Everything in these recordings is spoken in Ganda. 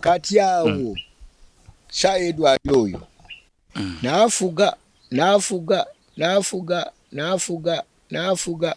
kati awo mm. sa edward oyo mm. nafuga nafuga nafuga nafuga nafuga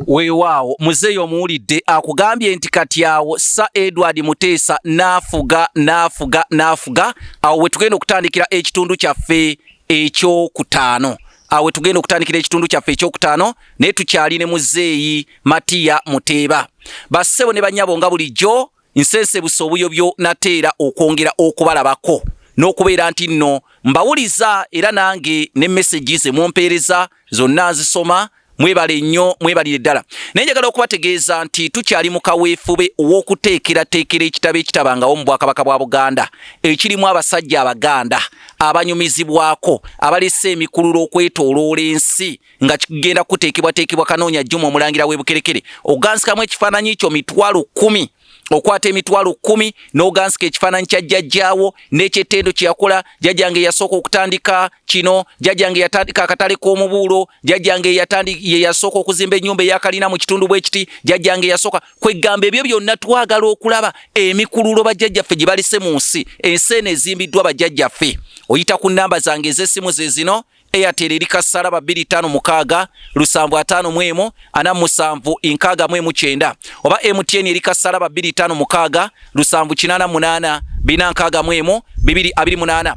weewaawo muzeeyi omuwulidde akugambye nti kati awo sa edward muteesa naafuga naafuga naafuga awo wetugenda okutandikira ekitundu kyaffe ekyokutaano awo wetugenda okutandikira ekitundu kyaffe ekyokutaano naye tukyali ne muzeeyi matiya muteeba bassebo ne banyabo nga bulijjo nsensebusa obuyobyo nate era okwongera okubalabako n'okubeera nti nno mbawuliza era nange ne mesegi ze mumpeereza zonna nzisoma mwebale nnyo mwebalire ddala naye njagala okubategeeza nti tukyali mu kaweefube ow'okuteekerateekera ekitabo ekitabangawo mu bwakabaka bwa buganda ekirimu abasajja abaganda abanyumizibwako abalese emikululo okwetooloola ensi nga kigenda kuteekebwateekebwa kanoonya juma omulangira w'ebukerekere ogansikamu ekifaananyi kyo mitwalo kumi okwata emitwalo kumi n'ogansika ekifaananyi kya jjajjaawo n'ekyettendo kye yakola jjajjange eyasooka okutandika kino jjajjange yatandika akatale k'omubuulo jjajjange ye yasooka okuzimba ennyumba eyakalina mu kitundu bwekiti jjajjange yasooka kweggamba ebyo byonna twagala okulaba emikululo bajjajjaffe gye balese mu nsi ensi eno ezimbiddwa bajjajjaffe oyita ku nnamba zange ez'essimu ze zino Airtel eri kassala ba 25 lusanvu ataano mu emu ana musanvu nkaaga mu emu kyenda oba MTN eri kassala ba 25 mukaaga lusanvu kinaana munaana bina nkaaga mu emu bibiri abiri munaana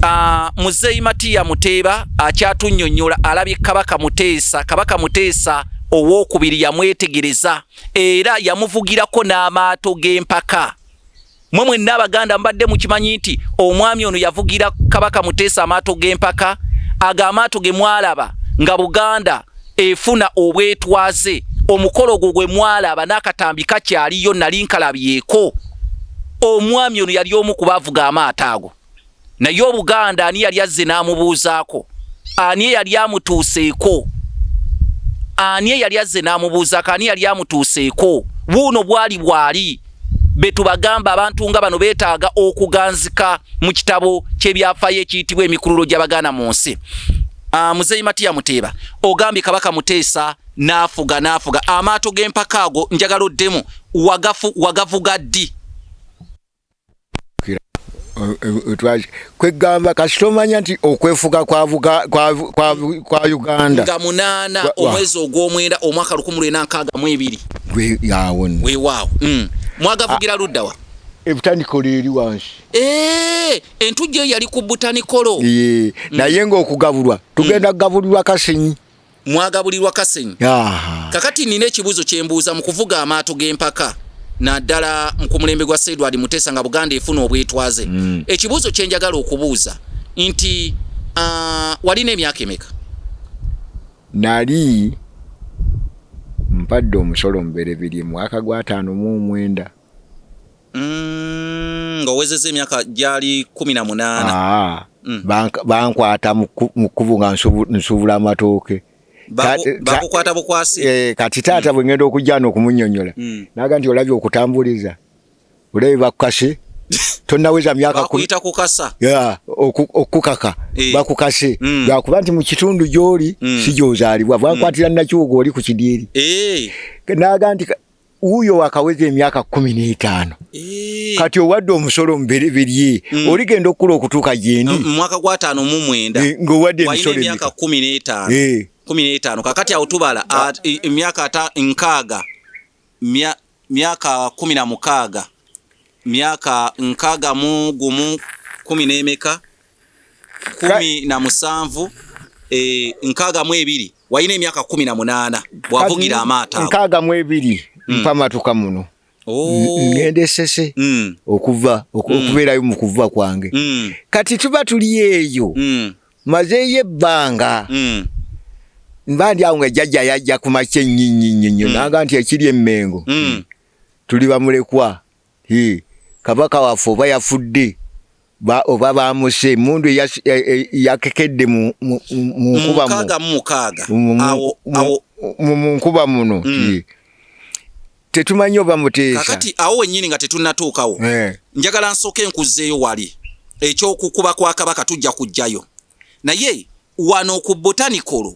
Uh, muzeyi matiya muteeba akyatunyonyola alabye kabaka muteesa kabaka muteesa owokubiri yamwetegereza era yamuvugirako n'amaato g'empaka mwe mwenna abaganda mbadde mukimanyi nti omwami ono yavugira kabaka muteesa amaato g'empaka ago amaato ge mwalaba nga buganda efuna obwetwaze omukolo gwo gwe mwalaba n'akatambi kakyaliyo nali nkalabyeko omwami ono yali omu kuba avuga amaato ago naye obuganda ani yali azze n'amubuuzaako ani eyali amutuuseeko ani eyali azze n'amubuuzaako ani yali amutuuseeko buuno bwali bwali betubagamba abantu nga bano betaaga okuganzika mu kitabo ky'ebyafaayo ekiyitibwa emikululo gy'abaganda mu nsi ah, muzeyi matiya muteeba ogambye kabaka muteesa n'afuga n'afuga amaato g'empaka ago njagala oddemu wagafu wagavuga ddi kwegamba kasita omanya nti okwefuga kwa uganda nga munaana omwezi ogwomwenda omwaka lukumi lwena nkaaga mu ebiri awo wewaawo mm. mwagavugira luddawa ebutanikolo eri wansi eh, entujjo eyo yali ku butanikolo mm. naye ngaokugabulwa tugenda mm. kugabulirwa kasinyi mwagabulirwa kasenyi kakati nina ekibuzo kyembuuza mu kuvuga amaato g'empaka naddala ku mulembe gwa sedward mutesa nga buganda efuna obwetwaze mm. ekibuuzo kyenjagala okubuuza nti uh, walina emyaka emeka nali mpadde omusolo muberebirye mwaka gwataano mu omwenda Mm, nga owezeza emyaka gyali kumi na munaana ah, mm. bankwata mu kkubo nga nsuubula amatooke bakukwata bukwasi eh, kati taata mm. bwengenda okujjana okumunyonyola naga nti olabye okutambuliza olabye bakukase tonaweza myaka kuyita kukasa ya okukaka eh. bakukase mm. bakuba nti mukitundu gyoli mm. sigyozalibwa bwakwatira mm. nakiwogo oli ku kidiiri eh. naga nti wuuyo wakaweza emyaka kumi n'etaano eh. kati owadde omusolo mubereberye mm. oligenda okukula okutuuka gyendi mumwaka gwataano mu mwenda eh, ngaowadde emisolo emyaka kumi n'etaano eh. kumi n'etaano kakati awo tubala ah. emyaka ata nkaaga myaka kumi na mukaaga myaka nkaaga mu gumu kumi n'emeka kumi na musanvu e, nkaaga mu ebiri walina emyaka kumi na munaana bwavugira amaato ago nkaaga mu ebiri mm. mpamatuka muno oh. ngendesese mm. okuva mm. okubeerayo mm. mu kuva kwange mm. kati tuba tuli eyo mm. mazeeyo ebbanga mm. mba ndi awo nga jajja yajja ku makya ennyinnyinnyinnyo mm. nanga nti ekiri emmengo mm. tuli bamulekwa Hii, kabaka waffe oba yafudde ba, oba bamuse emundu e, e, yakekedde mu nkuba mu nkuba muno mm. tetumanyi oba muteesa kakati awo wenyini nga tetunatuukawo eh. njagala nsooka enkuzzeeyo wali ekyokukuba kwa kabaka tujja kujjayo naye wano ku botanikolo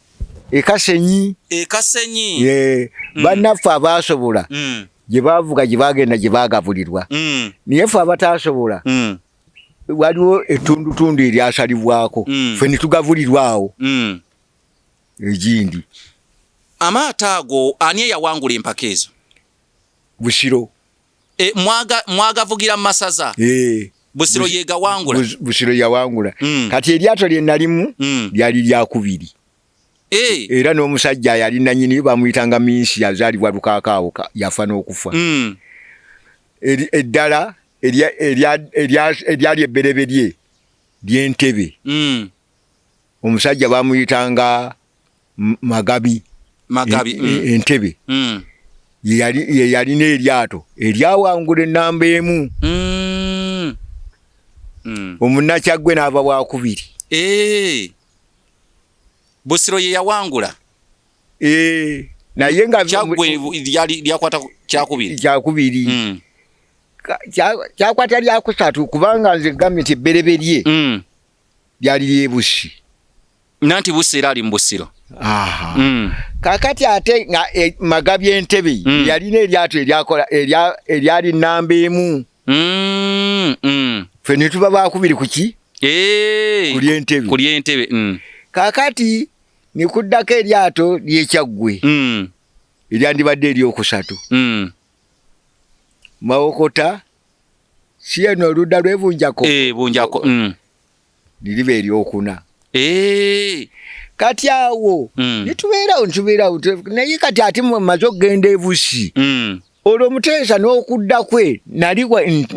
ekasenyi ekasenyi ye mm. banaffe abaasobola mm. gye baavuga gye baagenda gye baagabulirwa mm. naye ffe abataasobola mm. waliwo ettundutundu eryasalibwako mm. ffe ne tugabulirwa awo mm. egindi amaato ago ani eyawangula empaka ezo busiro e, mwaga mwagavugira masaza e. Busiro yega wangula Bus, Busiro ya wangula mm. kati eliato lye nalimu mm. lyali lya kubiri e. era n'omusajja yali nanyini bamuyitanga minsi yazalibwa lukakaawo yafa n'okufa mm. eddala eryali ebbereberye lyentebe mm. omusajja bamuyitanga magabi magabi e, e, mm. entebe mm. yeyalina eryato eryawangula enamba emu mm. mm. omunakyagwe naava wakubiri e. busiro yeyawangula e. naye nga lyakwata kyakubiri kyakubiri mm. kyakwata lyakusatu kubanga nze gambe nti ebbereberye mm. lyali ly'e Bussi. Nanti Bussi era ali mu Busiro. Aha. Mm. Kakati ate nga e, Magabi Entebbe mm. yalina eryato eryakola eryali nnamba emu. Mm. Mm. Ffe ne tuba baakubiri ku ki? Eeeyi. Ku ly'Entebbe. Ku ly'Entebbe. Mm. Kakati ne kuddako eryato ly'Ekyaggwe. Mm. Eryandibadde ery'okusatu. Mm. Mawokota. si eno oludda lwebunjako eh, bunjako mm. niriba eryokuna eh. kati awo mm. nitubeerawo nitubeerawo naye kati ate mumaze okugenda ebusi mm. olwo muteesa n'okudda kwe nali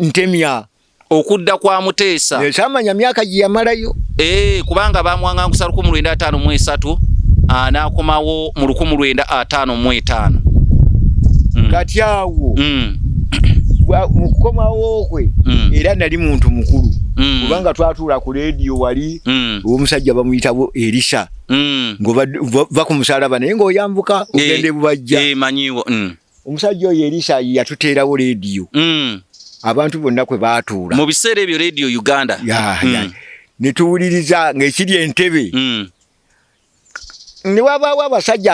ntemya okudda kwa muteesa ekyamanya myaka gye yamalayo eh, kubanga bamwangangusa lukumi lwenda ataano mu esatu ah, n'akomawo mu lukumu lwenda ataano mu etaano mm. kati awo mm. mu kukomawo kwe mm. era nali muntu mukulu mm. kubanga twatuula ku leediyo wali mm. omusajja bamuyitabo erisa mm. ngova ku musalaba naye ng'oyambuka eh, ogenda ebubajja eh, manyiwo mm. omusajja oyo erisa yatuteerawo leediyo mm. abantu bonna kwe baatuula mu biseera ebyo leediyo uganda yeah, mm. yeah. ne tuwuliriza ng'ekiri entebe mm. newabaawo abasajja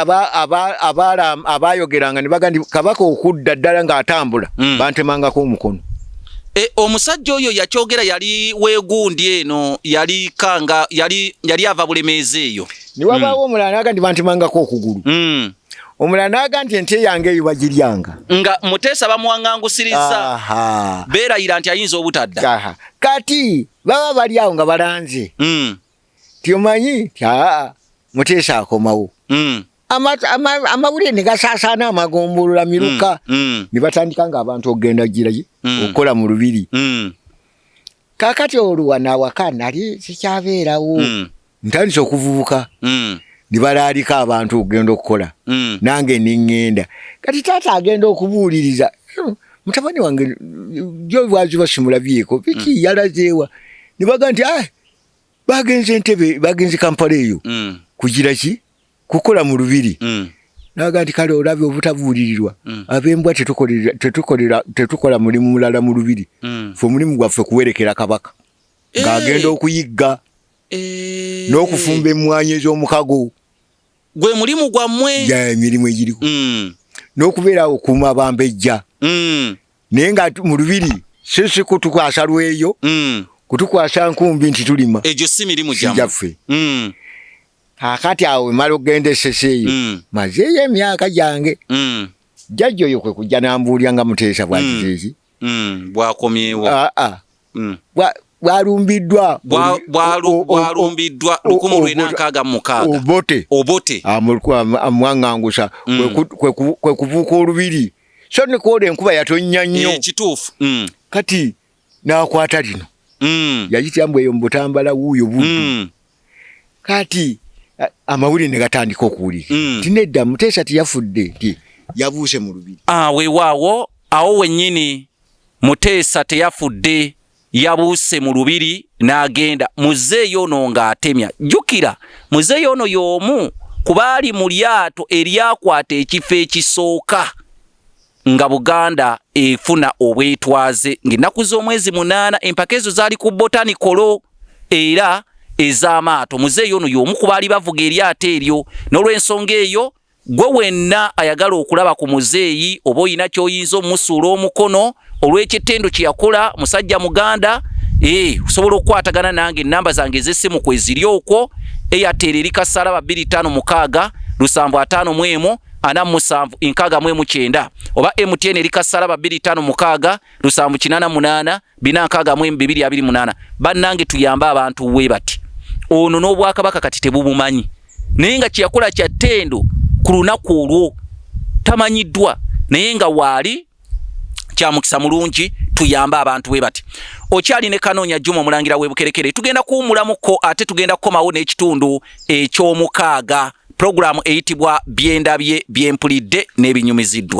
abaayogeranga nebaga nti kabaka okudda ddala ng'atambula mm. bantemangako omukono e, omusajja oyo yakyogera yali wegundi eno yali kanga yali, yali ava bulemeezi eyo newabaawo mm. omulala naga nti bantemangako okugulu mm. omulala naga nti ente yange eyo bagiryanga nga muteesa bamuwangangusiriza beerayira nti ayinza obutadda kati baba bali awo nga balanze mm. tyomanyi ti aa muteesa akomawo mm. amawulire ne gasaasaana amagombolola miruka mm, mm. ne batandika nga abantu okugenda giraye mm. okukola mu lubiri mm. kakati oluwa nawaka nali sikyabeerawo mm. ntandise okuvubuka mm. ne balaalika abantu okugenda okukola mm. nange neŋŋenda kati taata agenda okubuuliriza hmm, mutabani wange gyo lwaki basimulabyeko biki mm. yalazeewa ne baga nti ah, bagenze ntebe bagenze kampala eyo mm. kugira ki kukola mu lubiri mm. naga nti kale olabye obutabuulirirwa mm. abembwa tetukola mulimu mulala mu lubiri mm. fe omulimu gwaffe kuwerekera kabaka hey. Eh. ng'agenda okuyigga hey. Eh. n'okufumba emmwanyi ez'omukago gwe mulimu gwammwe emirimu egiriko mm. n'okubeera okuuma bambejja mm. naye nga mu lubiri sisi kutukwasa lweyo mm. kutukwasa nkumbi nti tulima egyo si mirimu gyaffe mm. akati awo emala okugenda esese eyo mm. mazeeyo emyaka gyange mm. jajja oyo kwe kujja nambuulira nga muteesa bwakizeeki mm. mm. bwakomyewo aa ah, ah. mm. bwalumbiddwa bwalumbiddwa lukumu lwena nkaaga mukaaga obote obote amwaŋŋangusa mm. kwe kuvuuka olubiri so nikoola enkuba yatonnya nnyo eh, kituufu mm. kati n'akwata lino mm. yayitira mbu eyo mu butambala wuuyo buddu kati amawulire ne gatandika okuwulika nti nedda muteesa tiyafudde nti yabuuse mu lubiri ah, wewaawo awo wennyini Muteesa teyafudde yabuuse mu lubiri n'agenda muzeeyi ono ng'atemya jjukira muzeeyi ono y'omu kubaali mu lyato eryakwata ekifo ekisooka nga buganda efuna obwetwaze ng'ennaku z'omwezi munaana empaka ezo zaali ku botanikolo era ez'amaato muzeeyi ono y'omu kubaali bavuga eryato eryo n'olwensonga eyo Gwe wenna ayagala okulaba ku muzeeyi oba olina kyoyinza omusuula omukono olw'ekittendo kye yakola musajja muganda ee osobola okukwatagana nange enamba zange ez'essimu kwe ziri okwo eyatera eri kasalaba 25 lusanvu ataano mu emu ana musanvu enkaaga mu emu kyenda oba mtn eri kasalaba 25 lusanvu kinana munaana bina nkaaga mu emu bibiri abiri munaana bannange tuyambe abantu we bati ono n'obwakabaka kati tebubumanyi naye nga kyeyakola kya ttendo ku lunaku olwo tamanyiddwa naye nga waali kyamukisa mulungi tuyambe abantu bwe bati okyali ne kanoonya juma omulangira webukerekere tugenda kuwumulamuko ate tugenda kukomawo n'ekitundu ekyomukaaga pulogulaamu eyitibwa byendabye byempulidde n'ebinyumiziddwa